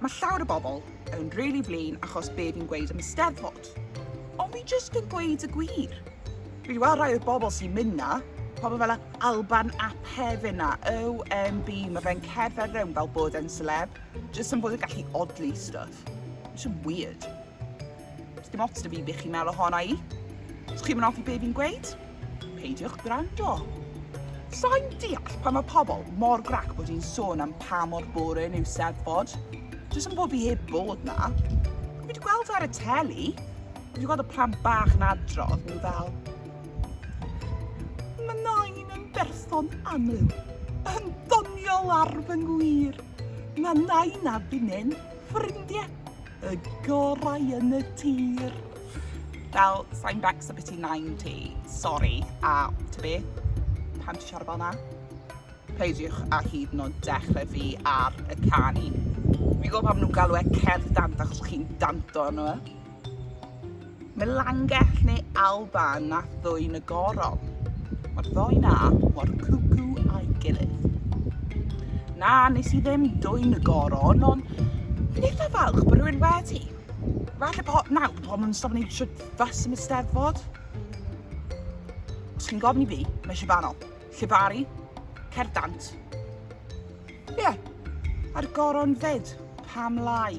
Mae llawer o bobl yn rili flin achos be fi'n gweud am y Steddfod. Ond fi jyst yn gweud y gwir. Fi wedi weld rhai o'r bobl sy'n mynd 'na, pobl fel Alban ap Hefin a OMB, mae fe'n cerdded rownd fel bod e'n celeb, jyst yn bod yn gallu odli stwff. It's just weird. Does dim ots da fi beth chi'n meddwl ohona i. Os chi'n hoffi be fi'n gweud, peidiwch gwrando. Sa'n deall pan mae pobl mor grac bod hi'n sôn am pa mor boring yw Steddfod. Does am bod fi heb bod na. Fi wedi gweld e ar y teli. Fi wedi gweld y plant bach yn adrodd, nhw fel... Mae nain yn berson aml, yn ddoniol ar fy ngwir. Mae nain a finnau'n ffrindiau. Y gorau yn y tir. Fel, sain becs o beth ti'n nain ti. Sori, a ti be? Pam ti siarad fel na? Peidiwch a hyd yn oed dechrau fi ar y canu. Fi'n gwybod pam nhw'n galw e cerdd dant achos chi'n danto arno fe. Melangell neu Alban na Thwyn y Goron. Mae'r ddoi na mor cwcw a'i gilydd. Na, nes i ddim dwyn y goron, ond fi'n eitha falch bod rhywun wedi. Falle po, na, po nhw'n stop wneud trwy fas yn y steddfod. Os chi'n gofyn i fi, mae eisiau banol. Llefaru, cer dant. Ie, a'r goron fed, pam lai?